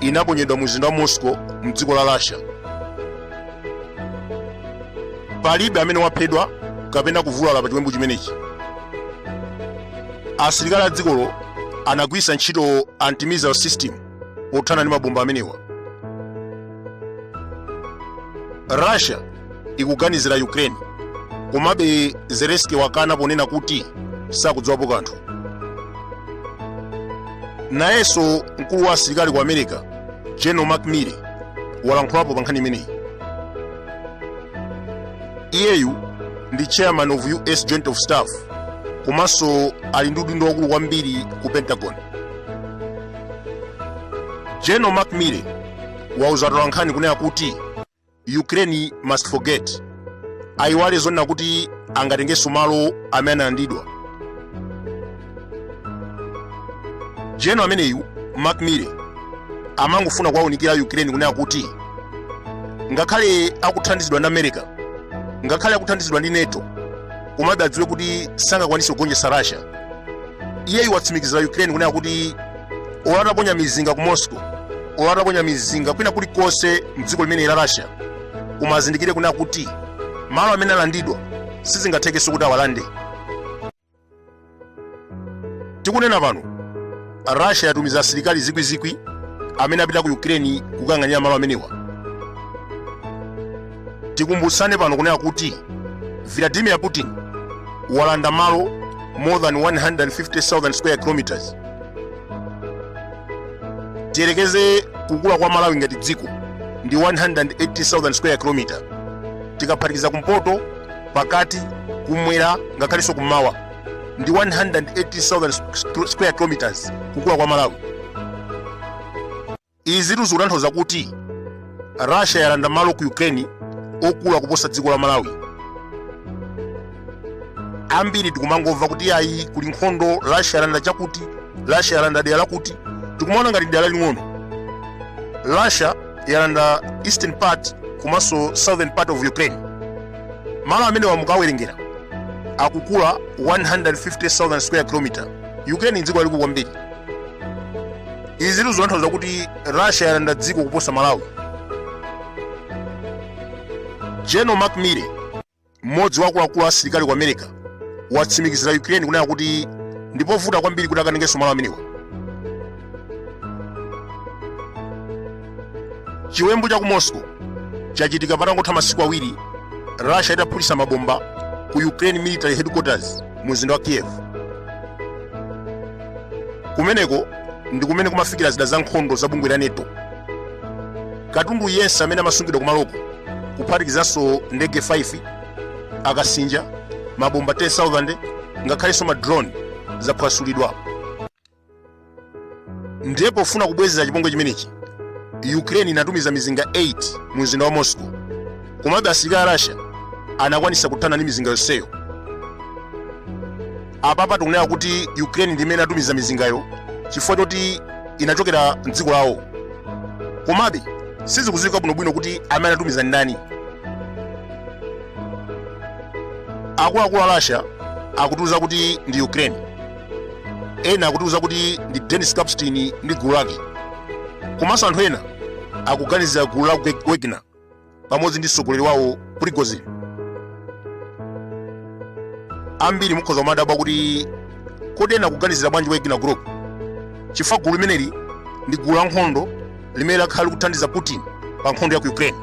inaponyedwa mu mzinda wa Moscow mdziko la Russia. Palibe amene waphedwa kapena kuvulala pa chiwembu chimenechi. Asilikali a dzikolo anagwiritsa ntchito anti-missile system pothana ndi mabomba amenewa. Russia ikuganizira ukraine komabe zelenski wakana ponena kuti sakudziwapo kanthu nayenso mkulu wa asilikali ku america general mark milley walankhulapo pa nkhani imeneyi iyeyu ndi chairman of us joint of staff komanso ali ndi udindo wakulu kwambiri ku pentagon general mark milley wauza atolankhani kunena kuti ukraine must forget ayiwale zonena kuti angatengenso malo amene analandidwa general ameneyu mark milley amangofuna kuwaunikira ukraine kunena kuti ngakhale akuthandizidwa ndi america ngakhale akuthandizidwa ndi nato komabe adziwe kuti sangakwanise kugonjetsa russia iyeyu watsimikizira ukraine kunena kuti olo ataponya mizinga ku moscow olo ataponya mizinga kwina kulikonse mdziko limeneli la russia koma azindikire kunena kuti malo amene alandidwa sizingathekenso kuti awalande tikunena pano russia yatumiza asilikali zikwizikwi amene apita ku ukraine kukayang'anira malo amenewa tikumbutsane pano kunena kuti vladimir putin walanda malo more than 150,000 square kilometers tiyerekeze kukula kwa malawi ngati dziko ndi 118,000 square kilometer tikaphatikiza kumpoto pakati kumwera ngakhalenso kummawa ndi 118,000 square kilometers kukula kwa malawi Izitu zikutanthauza kuti Russia yalanda malo ku Ukraine okula kuposa dziko la Malawi. Ambiri tikumangomva kuti ayi kuli nkhondo Russia yalanda chakuti, Russia yalanda dera lakuti, tikumaona ngati dera laling'ono. Russia yalanda eastern part komanso southern part of Ukraine. Malo amenewa mukawerengera akukula 150,000 square kilometer. Ukraine ndi dziko lalikulu kwambiri. izitu zikutanthauza kuti russia yalanda dziko kuposa malawi general mark milley mmodzi wa akuluakulu asilikali ku america watsimikizira ukraine kunena kuti ndipovuta kwambiri kuti akatengenso malo amenewa chiwembu cha ku moscow chachitika patangotha masiku awiri russia itaphulitsa mabomba ku ukraine military headquarters mu mzinda wa kiev kumeneko ndi kumene kumafikira zida za nkhondo za bungwe la nato katundu yense amene amasungidwa kumaloko kuphatikizanso ndege 5 akasinja mabomba 10000 ngakhalenso ma drone zaphwasulidwa ndiye pofuna kubwezera chipongwe chimenechi ukraine inatumiza mizinga 8 mu mzinda wa moscow komabe asilikali a russia anakwanisa kuthana ndi mizinga yonseyo Apapa tikunena kuti Ukraine ndi imene inatumiza mizingayo chifukwa choti inachokera m'dziko lawo. Komabe sizikudziwika bwinobwino kuti amene anatumiza ndi ndani. Akuluakulu a Russia akutiuza kuti ndi Ukraine. Ena akutiuza kuti ndi Denis Kapustin ndi gulu lake. Komanso anthu ena akuganizira gulu la Wagner. pamodzi ndi mtsogoleri wawo prigozhin ambiri mukhoza kumadabwa kuti kodi ena akuganizira bwanji wagner group chifukwa gulu limeneli ndi gulu la nkhondo limene lakhala likuthandiza putin pa nkhondo ya ku ukraine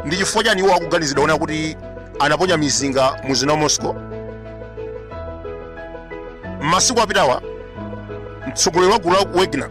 ndi chifukwa chani iwo akuganiziridwa kunena kuti anaponya mizinga mu mzinda wa moscow m'masiku apitawa mtsogoleri wa gulu la wagner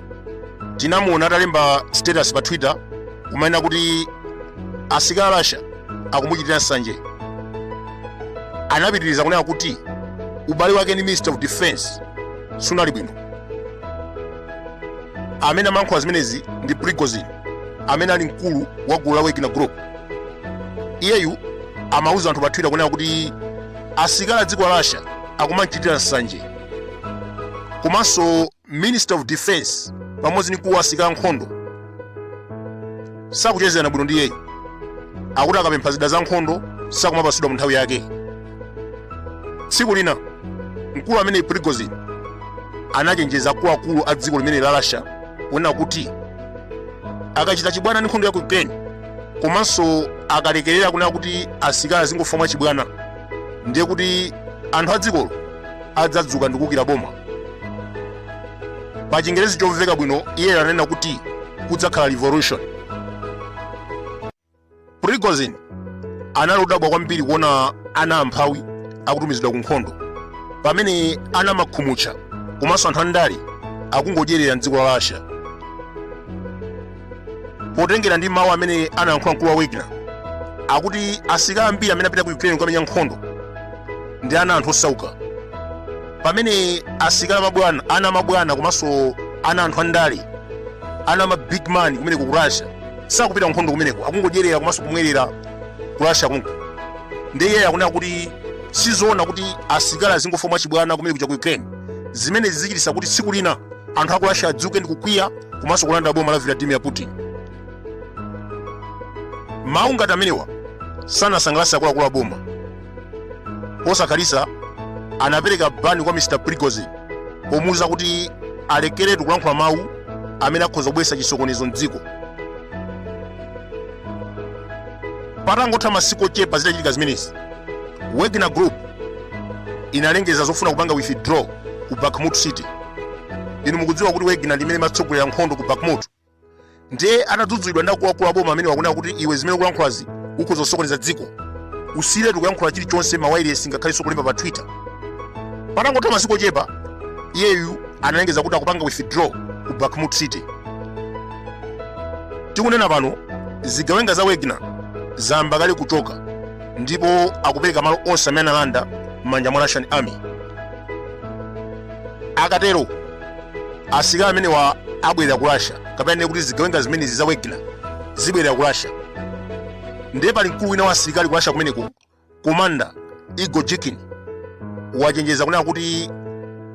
tinamuona atalemba status pa twitter kumanena kuti asilikali a russia akumuchitira nsanje anapitiriza kunena kuti ubale wake ndi minister of defense sunali bwino amene amayankhula zimenezi ndi prigozhin amene ali mkulu wa gulu la wagner group iyeyu amauza anthu pa twitter kunena kuti asilikali a dziko la russia akumamchitira nsanje komanso minister of defense pamodzi ndi mkulu wa asilikali ankhondo sakuchezerana bwino ndi iyeyu akuti akapempha zida za nkhondo sakumapasidwa mu nthawi yake tsiku lina mkulu ameneyi prigozhin anachenjeza akuluakulu a dziko limeneli la russia kunena kuti akachita chibwana ndi nkhondo ya ku ukraine komanso akalekerera kunena kuti asilikali azingofa mwa chibwana ndiye kuti anthu a dzikolo adzadzuka ndi kuukira boma pa chingerezi chomveka bwino iye ananena kuti kudzakhala revolution prigozhin anali odabwa kwambiri kuona ana amphawi akutumizidwa ku nkhondo pamene ana a makhumutcha komanso anthu andale akungodyerera mdziko la russia potengera ndi mawu amene anayankhula mkulu wa wagner akuti asilikali ambiri amene apita ku ukraine kukamenya nkhondo ndi ana a anthu osauka pamene asilikali ana a mabwana komanso ana a anthu andale ana ama big man kumeneko ku russia sakupita kunkhondo kumeneko akungodyerera komanso kumwerera ku russia konko ndiye iye akunena kuti sizoona kuti asilikali azingofa mwachibwana kumene kuja ku ukraine zimene zidzachititsa kuti tsiku lina anthu aku russia adzuke ndi kukwiya komanso kulanda boma la vladimir putin mawu ngati amenewa sanasangalatse akuluakulu a boma posakhalitsa anapereka bani kwa mr prigozhin pomuwuza kuti alekeretu kulankhula mawu amene akhoza kubweretsa chisokonezo mdziko patangotha masiku ochepa zitachitika zimenezi wagner group inalengeza zofuna kupanga withdraw ku bakhmut city inu mukudziwa kuti wagner ndi imene imatsogolera nkhondo ku bakhmut ndiye atadzudzulidwa ndi akuluakulu aboma amenewa kunena kuti iwe zimene ukulankhulazi ukhoza kusokoneza dziko usiyiretu kuyankhula chilichonse m'mawailesi ngakhalenso kulemba pa twitter patangotha masiku ochepa iyeyu analengeza kuti akupanga withdraw ku bakhmut city tikunena pano zigawenga za wagner zayamba kale kuchoka ndipo akupereka malo onse amene analanda m'manja mwa russian army akatero asilikali amenewa abwerera ku russia kapena ndinene kuti zigawenga zimenezi za wagner zibwerera ku russia ndiye pali mkulu wina wa asilikali ku russia kumeneko komanda igor girkin wachenjeza kunena kuti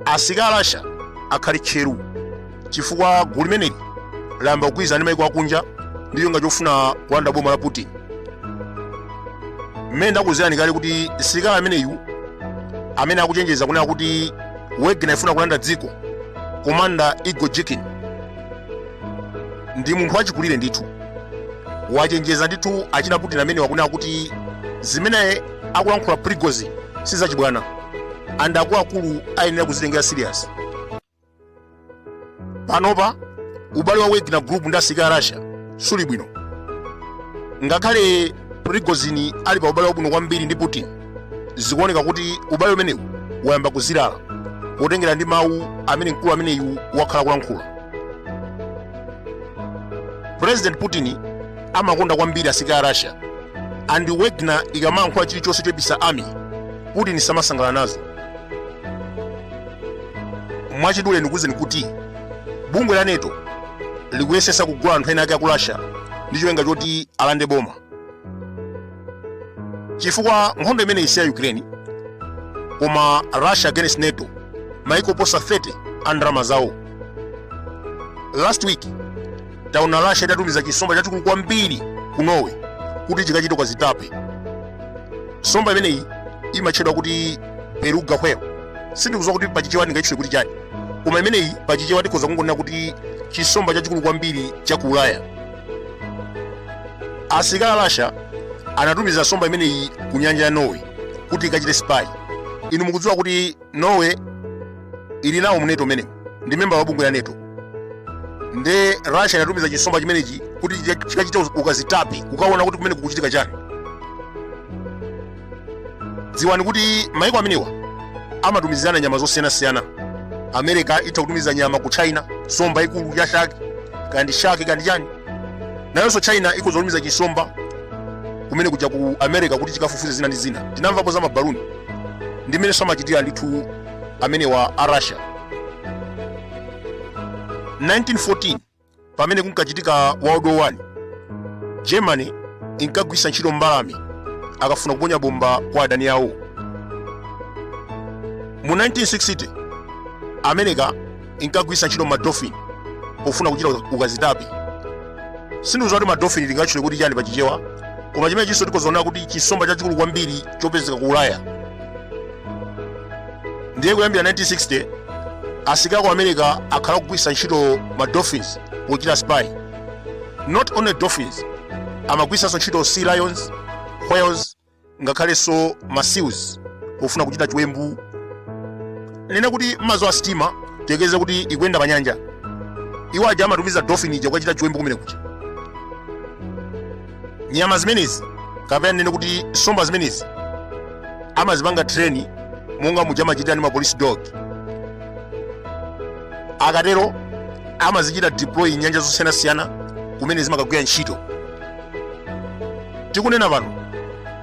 asilikali a russia akhale tcheru chifukwa gulu limeneli layamba kugwirizana ndi maiko akunja ndi cholinga chofuna kulanda boma la putin mmene ndakuuzirani kale kuti msilikali ameneyu amene akuchenjeza kunena kuti wagner ifuna kulanda dziko komanda igor girkin ndi munthu wachikulire ndithu wachenjeza ndithu achina putin amenewa kunena kuti zimene akulankhula prigozhin sizachibwana and akuluakulu ayenera kuzitengera serious panopa ubale wa wagner group ndi asirikali a russia siuli bwino ngakhale prigozhin ali pa ubale wabwino kwambiri ndi putin zikuoneka kuti ubale umenewu wayamba kuzilala potengera ndi mawu amene mkulu ameneyu wakhala akulankhula president putin amakonda kwambiri asirikali a russia and wagner ikamayankhula chilichonse choipitsa army putin samasangalala nazo mwachidule ndikuwuzeni kuti bungwe la nato likuyesetsa kugula anthu ena ake aku russia ndi cholinga choti alande boma chifukwa nkhondo imeneyi si ya ukraine koma russia against nato maiko oposa 30 a ndalama zawo last week taona russia itatumiza chisomba chachikulu kwambiri ku norway kuti chikachite ukazitape somba imeneyi imatchedwa kuti beluga whale sindikudziwa kuti pachichewa ndingachitchule kuti chani koma imeneyi pachichewa tikhoza kungonena kuti chisomba chachikulu kwambiri cha ku ulaya asilikali a russia anatumiza somba imeneyi ku nyanja ya norway kuti ikachite spy inu mukudziwa kuti norway ili nawo mu nato umenewu ndi memba wa bungwe la nato nde russia inatumiza chisomba chimenechi kuti chika- chikachite uz- ukazitape kukaona kuti kumene kukuchitika chani dziwani kuti maiko amenewa amatumizirana nyama zosiyanasiyana america itha kutumiza nyama ku china somba yaikulu ya shark kaya ndi shark kaya ndi chani nayonso china ikhoza kutumiza chisomba kumene kuja ku america kuti chikafufuze zina ndi zina tinamvapo za mabaluni ndi mmenenso amachitira ndithu amenewa a russia 1914 pamene kunkachitika world war 1 germany inkagwiritsa ntchito mbalame akafuna kuponya bomba kwa adani awo mu 1960 america inkagwiritsa ntchito madolphin pofuna kuchita ukazitape sindikudziwa kuti madolphin tingatchule kuti chani pa chichewa koma chimenechinso tikhoza kungonena kuti chisomba chachikulu kwambiri chopezeka ku ulaya ndiye kuyambira 1960 asilikali aku america akhala akugwiritsa ntchito ma dolphins pochita spy not only dolphins amagwiritsanso ntchito sea lions whales ngakhalenso ma seals pofuna kuchita chiwembu nene kuti mmadzi a sitima tiyerekeze kuti ikuyenda pa nyanja iwo aja amatumiza dolphin ija kukachita chiwembu kumene kuja nyama zimenezi kapena nene kuti nsomba zimenezi amazipanga train monga muja amachitira ndi ma police dog akatero amazichita deploy mnyanja zosiyanasiyana kumene zimakagwira ntchito tikunena pano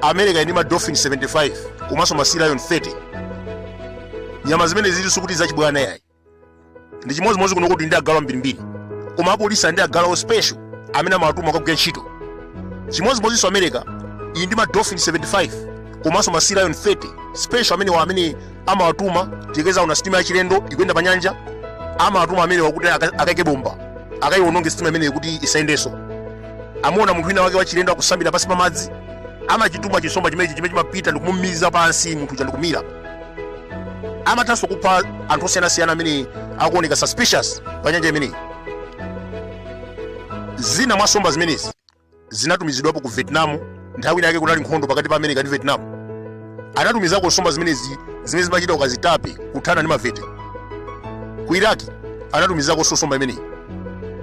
america ili ndi ma dolphin 75 komanso ma sea lion 30 nyama zimene zilinso kuti zachibwana yayi ndi chimodzimodzi kunoku tili ndi agalu ambirimbiri koma apolisi ali ndi agalu awo special amene amawatuma kukagwira ntchito chimodzimodzinso america ili ndi ma dolphin 75 komanso ma sea lion 30 special amenewa amene amawatuma tiyerekeze aona sitima yachilendo ikuyenda pa nyanja amawatuma amenewa kuti aka- akaike bomba akaiononge sitima imeneyo kuti isayendenso amaona munthu wina wake wachilendo akusambira pansi pa madzi amachituma chisomba chimenechi chimene chimapita ndikumumiza pansi munthu uja ndikumira amathanso kupha anthu osiyanasiyana amene akuoneka suspicious pa nyanja imeneyi zina mwa nsomba zimenezi zinatumizidwapo ku vietnam nthawi inayake kunali nkhondo pakati pa america ndi vietnam anatumizako nsomba zimenezi zimene zimachita ukazitape kuthana ndi mavieti ku iraki anatumizakonso nsomba imeneyi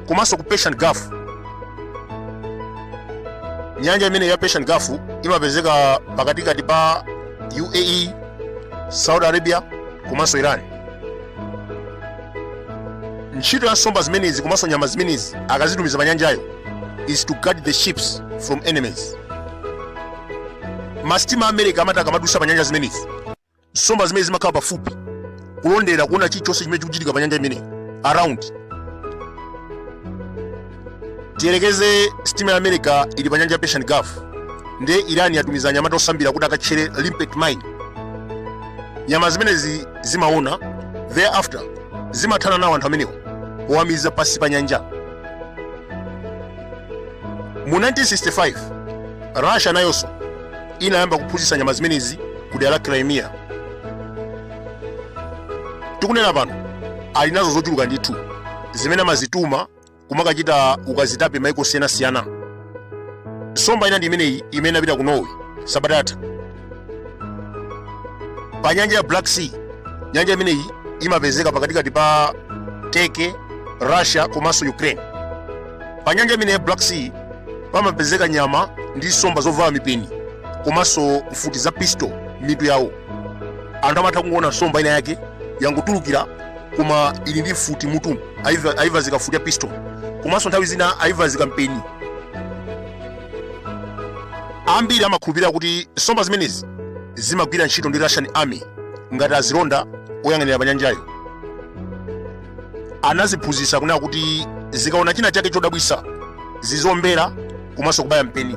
komanso ku persian gulf nyanja imeneyo ya persian gulf imapezeka pakatikati pa uae saudi arabia komanso iran ntchito ya nsomba zimenezi komanso nyama zimenezi akazitumiza pa nyanjayo is to guard the ships from enemies masitima a america amati akamadusa pa nyanja zimenezi nsomba zimenezi zimakhala pafupi kulondera kuona chilichonse chimene chikuchitika pa nyanja imeneyi around tiyerekeze sitima ya america ili pa nyanja ya persian gulf nde iran yatumiza anyamata osambira kuti akatchere limpet mine nyama zimenezi zimaona thereafter zimathana nawo anthu amenewo powamiza pansi pa nyanja mu 1965 russia nayonso inayamba kuphunzitsa nyama zimenezi ku dera la crimea tikunena pano ali nazo zochuluka ndithu zimene amazituma kumakachita ukazitape maiko osiyanasiyana nsomba ina ndi imeneyi imene inapita ku norway sabata yatha pa nyanja ya black sea nyanja imeneyi imapezeka pakatikati pa turkey russia komanso ukraine pa nyanja imeneyi ya black sea pamapezeka nyama ndi nsomba zovala mipeni komanso mfuti za pistol mitu yawo anthu amatha kungoona nsomba ina yake yangotulukira koma ili ndi mfuti mutu ayivazika mfuti ya pistol komanso nthawi zina ayivazika mpeni Ambiri amakhulupirira kuti nsomba zimenezi zimagwira ntchito ndi Russian Army ngati azilonda oyang'anira pa nyanjayo. Anaziphunzitsa kunena kuti zikaona china chake chodabwitsa zizombera komanso kubaya mpeni.